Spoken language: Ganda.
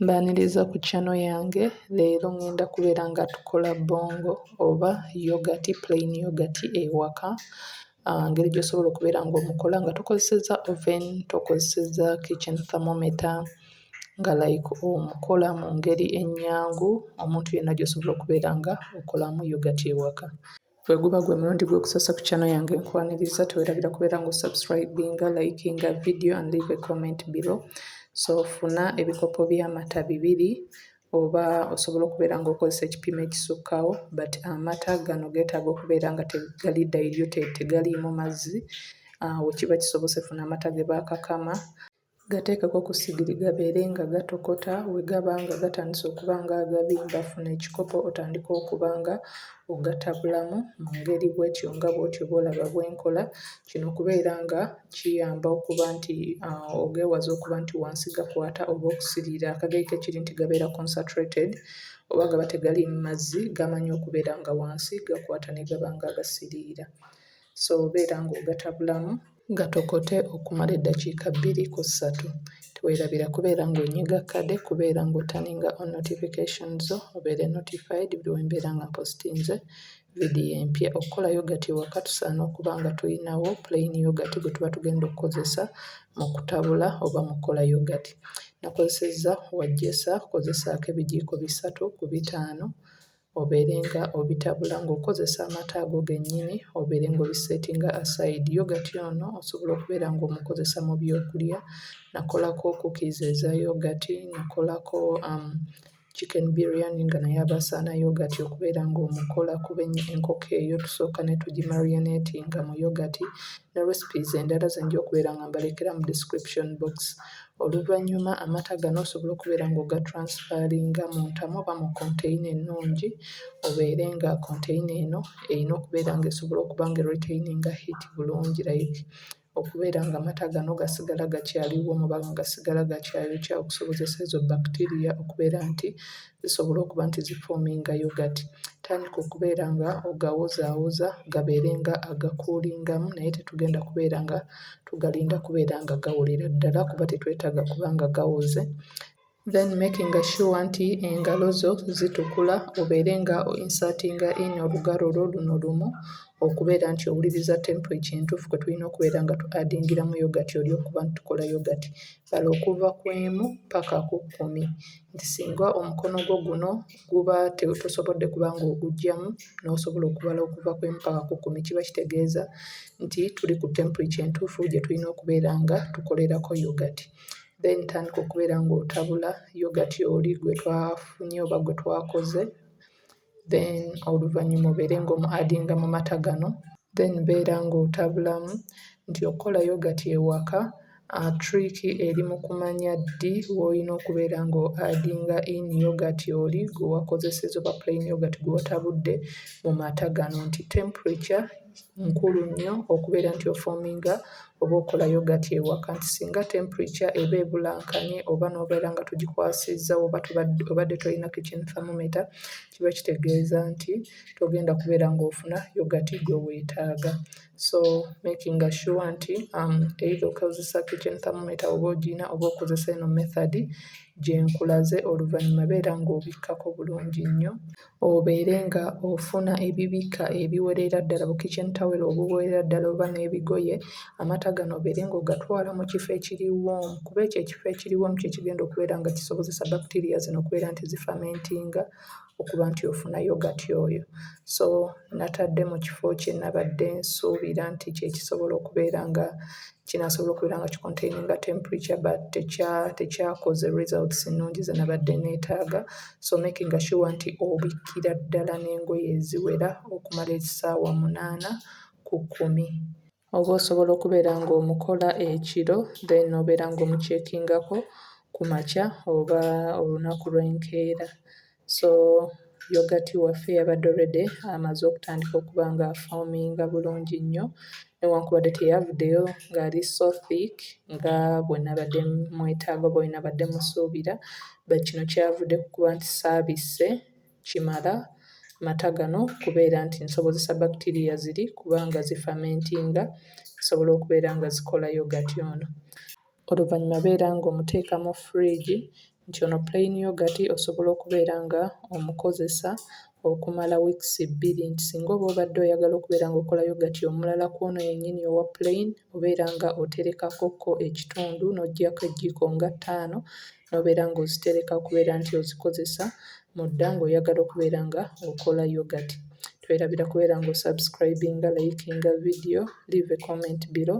Mbaniriza ku channel yange leero ngenda kubeera nga tukola bongo oba yogati plain yogati ewaka ngeri gy'osobola okubeera nga omukola nga tokozesezza oven tokozesezza kitchen thermometer nga like omukola mu ngeri ennyangu omuntu yenna gy'osobola okubeera nga okolamu yogati ewaka. Gwe guba gwe mulundi gw'okusoosa ku channel yange nkwaniriza tewerabira kubeera nga osubscribinga, likinga video and leave a comment below. So funa ebikopo by'amata bibiri oba osobola okubeera ng'okozesa ekipimo ekisukkawo but amata gano geetaaga okubeera nga tegali diluted tegaliimu mazzi. Ah, we kiba kisobose funa amata ge baakakama Gateekeko ku ssigiri gabeere nga gatokota, bwe gaba nga gatandise okuba nga agabimba funa ekikopo otandike okuba nga ogatabulamu mu ngeri bwetyo nga bwotyo bw'olaba bwe nkola. Kino okubeera nga kiyamba okuba nti ogeewaze okuba nti wansi gakwata oba okusiriira. Akagaika ekiri nti gabeera consatrated oba gaba tegaliimu mazzi gamanyi okubeera nga wansi gakwata ne gaba nga agasiriira. soobeera ng'ogata bulamu. Gatokote okumala eddakiika bbiri ku ssatu. Teweerabira kubeera ng'onyiga kkade kubeera ng'otaninga on notification zo obeere notified buli we mbeera nga mpositinze vidiyo empya. Okukola yogati ewaka tusaana okuba nga tulinawo plain yogati gwe tuba tugenda okukozesa mu kutabula oba mu kukola yogati. Nakozesezza wajjesa, kozesaako ebijiiko bisatu ku bitaano. obeere nga obitabula ng'okozesa amata ago gennyini obeere ng'obiseetinga aside. Yogati ono osobola okubeera ng'omukozesa mu byokulya, nakolako cookies eza yogati, nakolako chicken biriyani nga naye aba asaana yogati okubeera ng'omukola kuba enkoko eyo tusooka ne tugimariyoneetinga mu yogati ne recipes endala ze nja okubeera nga mbalekera mu description box. Oluvannyuma amata gano osobola okubeera ng'ogatransferinga mu ntamu oba mu konteyina ennungi obeere nga konteyina eno eyina okubeera ng'esobola okuba nga eritaininga hiiti bulungi layiki okubeera ng'amata gano gasigala gakyali woomu oba nga gasigala gakyayokya okusobozesa ezo bbakitiriya okubeera nti zisobola okuba nti zifoominga yogati tandika okubeera nga ogawozaawoza gabeere nga agakuulingamu naye tetugenda kubeera nga tugalinda kubeera nga gawolera ddala kuba tetwetaaga kuba nga gawoze then making sure nti engalo zo zitukula obeere nga insertinga in olugalo lwo luno lumu okubeera nti owuliriza temperature entuufu kwe tulina okubeera nga tu adingiramu yogati oli okuba nti tukola yogati Sala okuva ku emu paka ku kkumi nti singa omukono gwo guno guba tosobodde kuba ng'ogugyamu n'osobola okubala okuva ku emu paka ku kkumi kiba kitegeeza nti tuli ku temperature entuufu gye tulina okubeera nga tukolerako yoghurt. Then tandika okubeera ng'otabula yoghurt oli gwe twafunye oba gwe twakoze. then oluvannyuma obeere ng'omu adinga mu mata gano then beera ng'otabulamu nti okukola yogati ewaka trick eri mu kumanya ddi w'olina okubeera ngo adinga in yogati oli gwe wakozeseza oba plain yogati gw'otabudde mu mata gano nti temperature nkulu nnyo okubeera nti ofoominga oba okola yogati ewaka nti singa temperature eba ebulankanye oba n'obeera nga togikwasizza oba tubadde obadde tolina kitchen thermometer kiba kitegeeza nti togenda kubeera ng'ofuna yogati gwe weetaaga. So making sure nti um either okozesa kitchen thermometer oba ogirina oba okozesa eno method gye nkulaze oluvannyuma beera ng'obikkako bulungi nnyo. obeere nga ofuna ebibikka ebiwerera ddala bu kitchen towel obuwerera ddala oba n'ebigoye, amata gano obeere nga ogatwala mu kifo ekiri warm kuba ekyo ekifo ekiri warm kye kigenda okubeera nga kisobozesa bacteria zino okubeera nti zi fermentinga okuba nti ofuna yoghurt oyo. So natadde mu kifo kye nabadde nsuubira nti kye kisobola okubeera nga kinasobola okubeera nga kikontaininga temperature but tekya tekyakoze results nnungi ze nabadde neetaaga so making sure nti obikkira ddala n'engoye eziwera okumala ekisaawa munaana ku kkumi oba osobola okubeera ng'omukola ekiro then obeera ng'omukyekingako ku makya oba olunaku lw'enkeera so yogati waffe yabadde already amaze okutandika okuba nga afoominga bulungi nnyo newankubadde teyavuddeyo ng'ali so thick nga bwe nabadde mwetaaga oba bwe nabadde musuubira but kino kyavudde ku kuba nti saabisse kimala mata gano kubeera nti nsobozesa bacteria ziri kubanga zifamentinga zisobola okubeera nga zikola yogati ono Oluvannyuma beera ng'omuteeka mu fridge nti ono plain yoghurt osobola okubeera nga omukozesa okumala weeks bbiri nti singa oba obadde oyagala okubeera ng'okola yoghurt omulala kw'ono yennyini owa plain obeera nga oterekako ko ekitundu n'oggyako ejjiiko nga ttaano n'obeera ng'ozitereka okubeera nti ozikozesa mudda ng'oyagala okubeera nga okola yoghurt. Twerabira kubeera ng'o subscribinga, likinga video, leave a comment below.